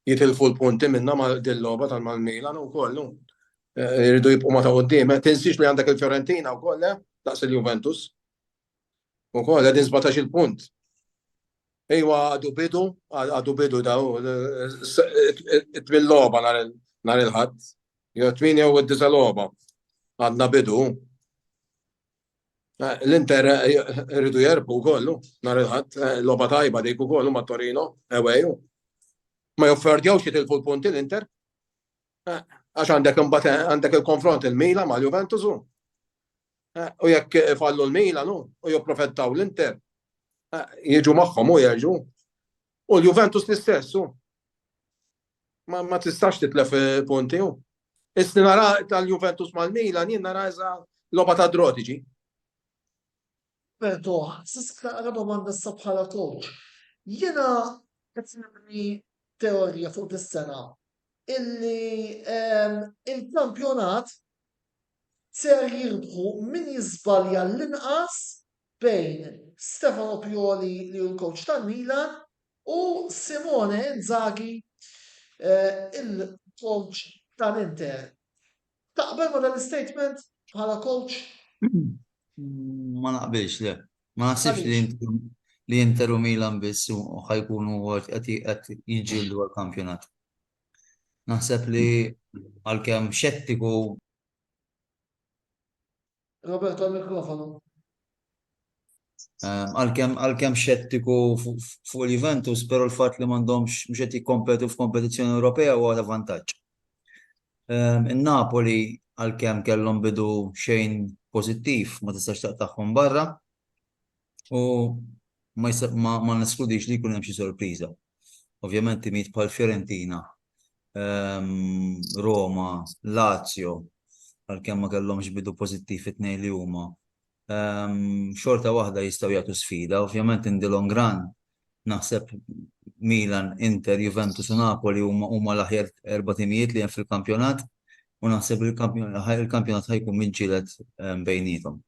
jitilfu l-punti minna ma' dil-loba tal-Milan u kollu. Eh, Rridu jibqu ma ta' għoddim. Tinsix li għandek il-Fiorentina u kolle, daqs il-Juventus. U kolle, din 17 il-punt. Iwa għadu bidu, għadu bidu da u it-tmin loba nar il-ħadd. Jo tmin jew id-disa loba. Għadna bidu. Eh, L-Inter eh, rridu jerbu kollu, nar il-ħadd, eh, loba tajba dik ukoll ma' Torino, eweju. Ma jofferdjawx jitilfu l-punti l-Inter. Għax għandek imbagħad għandek il-konfront il-Mila ma' Juventus u. U jekk fallu l-Mila nu, u jopprofettaw l-Inter. Jiġu magħhom u jerġu. U l-Juventus l-istess u. Ma tistax titlef punti u. Isni nara tal-Juventus mal-Mila, jien nara eża loba ta' drotiġi. Bertoh, Sisk naqra domanda issa bħala kowċ. Jiena qed nibni teorija fuq dis-sena illi il-kampjonat ser jirbħu min jiżbalja l-inqas bejn Stefano Pioli li hu l-kowċ tal-Milan u Simone Inzaghi il-kowċ tal-Inter. Taqbel ma' dan l-istatement bħala coach? Ma naqbilx, le. Ma naħsibx li li Inter u Milan biss u ħajkunu qed jiġġieldu għall-kampjonat. Naħseb li għalkemm xettiku Roberto l-mikrofonu. Ehm, għalkemm għalkemm xettiku fuq il-Juventus, però l-fatt li m'għandhomx mhux qed jikkompetu f'kompetizzjoni Ewropea huwa ta' vantaġġ. Ehm, In-Napoli għalkemm kellhom bidu xejn pożittiv ma tistax taqtagħhom barra. u ma neskludix li jkun hemm xi sorpriża. Ovvjament timijiet bħal Fiorentina, ehm, Roma, Lazio, għalkemm ma kellhomx bidu pożittiv it-tnejn li huma, ehm, xorta waħda jistgħu jagħtu sfida, ovvjament indilhom gran Naħseb Milan, Inter, Juventus u Napoli huma l-aħjar erba' timijiet li hemm fil-kampjonat u naħseb li l-kampjonat ħa jkun miġġieled bejniethom.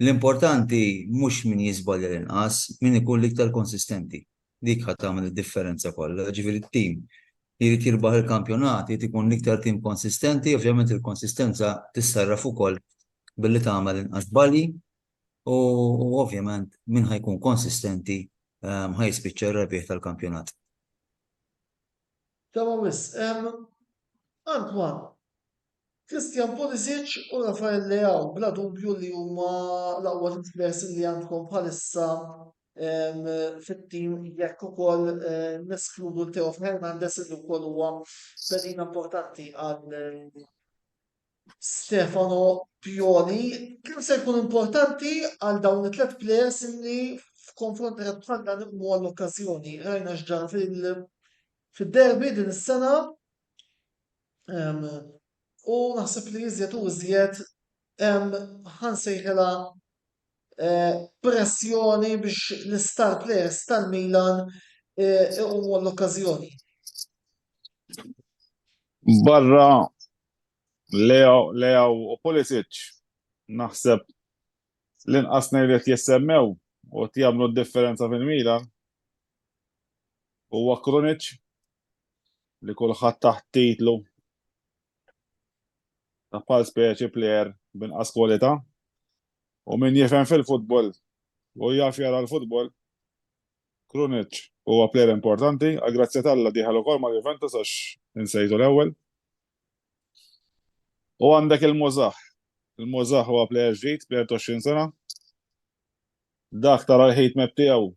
L-importanti mhux min jiżbalja l-inqas, min ikun l-iktar konsistenti. Dik ħa tagħmel id-differenza kollha. Jiġifieri t-tim li jrid jirbaħ il-kampjonat irid ikun l-iktar tim konsistenti, ovvjament il-konsistenza tissarraf ukoll billi tagħmel inqas żbalji u ovvjament min ħa jkun konsistenti ħa jispiċċa r-rebbieħ tal-kampjonat. Tama wisq hemm Antoine, Christian Pulisic u Rafael Leao bla dubju li huma l-aqwa tliet ħliesin li għandkom bħalissa fit-tim jekk ukoll neskludu l-Theo Hernandez li wkoll huwa pedina importanti għal Stefano Pioli, kemm se jkun importanti għal dawn it-tliet plejers li f'konfront tajjeb bħal dan iqmu għall-okkażjoni. Rajna x'ġara fid-derby din is-sena u naħseb li iżjed u iżjed hemm ħansejħilha pressjoni biex l-istar plejers tal-Milan iqumu għall-okkażjoni. Barra Leao u Pulisic naħseb l-inqas ngħid qed jissemmew u qed jagħmlu d-differenza fil-Milan. Huwa Krunic li kulħadd taħt titlu ta' bħal speċi plejer binqas kwalità u min jifhem fil-futbol u jaf jara l-futbol Krunic huwa player importanti, għall-grazzja t'Alla dieħel ukoll ma' Juventus għax insejtu l-ewwel. U għandek il-Muzah. Il-Muzah huwa player ġdid, player 20 sena. Dak tara l-ħid mep tiegħu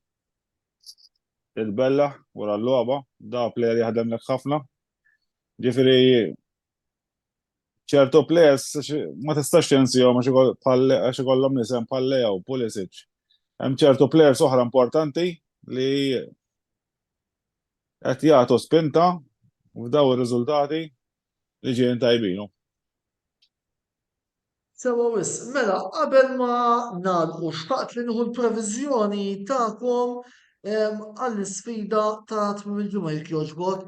il-bella wara l-logħba, da player jaħdem lek ħafna. Ġifieri ċertu plejers ma tistax tinsihom għax ikollhom nisem bħal Leo, Pulisic. Hemm ċertu plejers oħra importanti li qed jagħtu spinta f'daw ir-riżultati li ġejjin tajbinu. Sewa wis, mela qabel ma nagħlqu xtaqt li nieħu l-previżjoni tagħkom għall-isfida ta' tmiem il-ġimgħa jekk jogħġbok.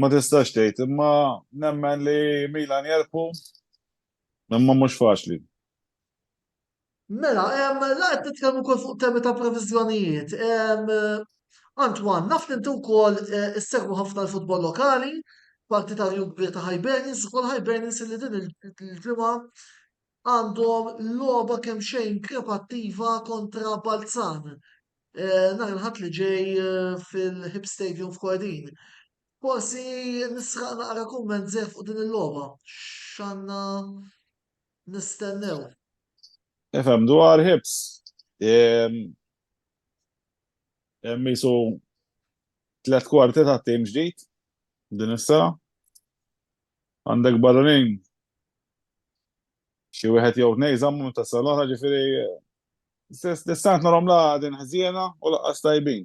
Ma tistax tgħid, imma nemmen li Milan jerpu, imma mhux faċli. Mela, la qed nitkellmu wkoll fuq temi ta' previżjonijiet. Antwan, naf li inti wkoll eh, issegwu ħafna l-futbol lokali, parti ta' rjub kbir ta' Hibernians, ukoll Hibernians li din il-ġimgħa għandhom logħba kemmxejn krepattiva kontra Balzan nhar il-Ħadd li ġej fil-Hib Stadium f'Kordin. Forsi nisraq naqra kumment żgħir fuq din il-logħba. X'għandna nistennew? Ifhem dwar Hibs. Hemm isu tliet kwarti ta' tim ġdid din is-sena. Għandek barranin xi wieħed jew tnejn żammu minn tas-sena l-oħra, ġifieri l-istant narhom la din ħżiena u laqqas tajbin.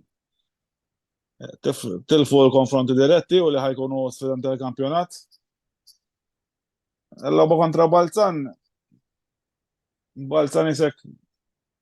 Tilfu l-konfronti diretti u li ħajkunu sfidanti tal-kampjonat. L-logħba kontra Balzan, Balzan isek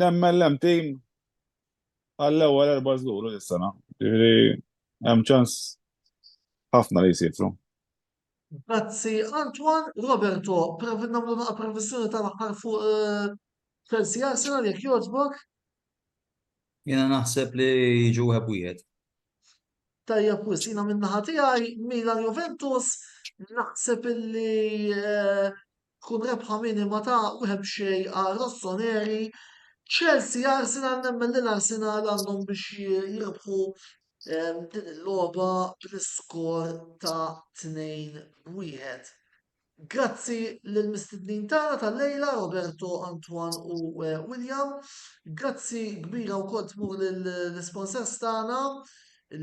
Nemmen l-hemm tim għall-ewwel erba' żhur u dis-sena. Jiġifieri hemm ċans ħafna li jsifru. Grazzi Antoine. Roberto, provi nagħmlu naqa' previssjoni tal-aħħar fuq Chelsea Arsenal jekk jogħġbok. Jiena naħseb li jiġu wieħed b'wieħed. Tajjeb wisq. Jiena min-naħa tiegħi Milan Juventus naħseb illi Tkun rebħa minima ta' wieħed b'xejn għal Rossoneri, Chelsea, Arsenal nemmen li l-Arsenal għandhom biex jirbħu din il-logħba bl-iskor ta' 2-1. Grazzi lill-mistednin tagħna tal-lejla Roberto, Antoine u William. Grazzi kbira wkoll tmur lill-isponsors tagħna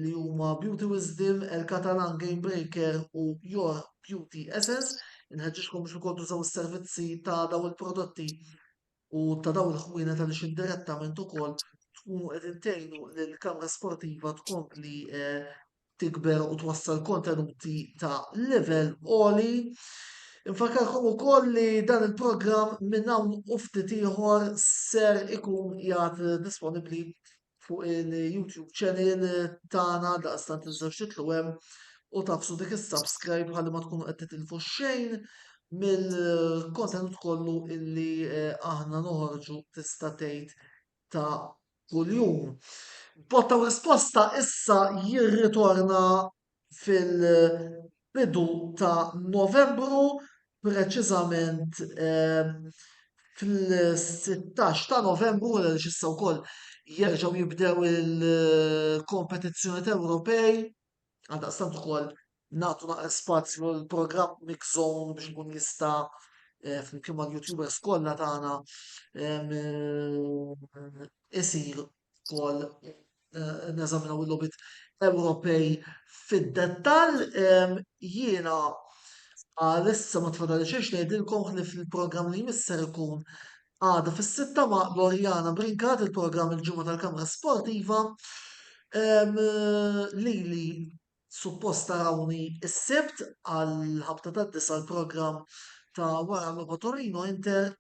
li huma Beauty Wisdom, El Catalan Game Breaker u Your Beauty Essence. Inħeġġiġkom biex ukoll tużaw is-servizzi ta' daw il-prodotti u ta' daw il-ħwienet għaliex indirettament ukoll tkunu qegħdin tgħinu lil kamra sportiva tkompli eh, tikber u twassal kontenuti ta' level oli. Infakarkom ukoll li dan il-programm minn hawn u ftit ieħor ser ikun jgħat disponibbli fuq il-YouTube channel tagħna daqstant tinżewx titlu hemm u tafsu dik is-subscribe ħalli ma tkunu qed titilfu xejn mill-kontenut kollu illi eh, aħna noħorġu tista' tgħid ta' kuljum. Botta risposta issa jirritorna fil-bidu ta' Novembru, preċiżament fil-16 ta' Novembru, għal issa wkoll jerġgħu jibdew il-kompetizzjoni Ewropej, għaldaqstant ukoll nagħtu naqra spazju l-programm Mix Zone biex ikun jista' eh, flimkien mal-YouTubers kollha tagħna eh, isir wkoll neżaminaw il-logħbiet Ewropej fid-dettall. Jiena għalissa ma tfadali xejn ngħidilkom li fil-programm li jmisser ikun għada fis-sitta ma' Lorjana Brinkat il-programm il-ġimgħa tal-Kamra Sportiva li li suppost tarawni s-sibt għal ħabta tad-disa l-programm ta' wara l-logħba Torino Inter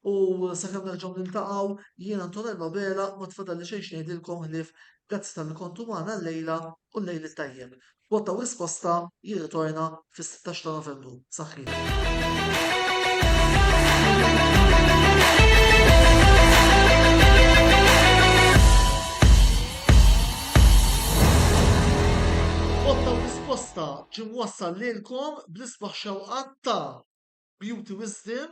U sakemm nerġgħu niltaqgħu, jien Antonell Abela ma tfadalli xejn x'ngħidilkom ħlief grazzi talli kontu magħna llejla u llejl it-tajjeb. Botta u Risposta jirritorna fis-sittax ta' Novembru. Saħħieħ. Botta u Risposta ġie mwassal lilkom bl-isbaħ xewqat ta' Beauty Wisdom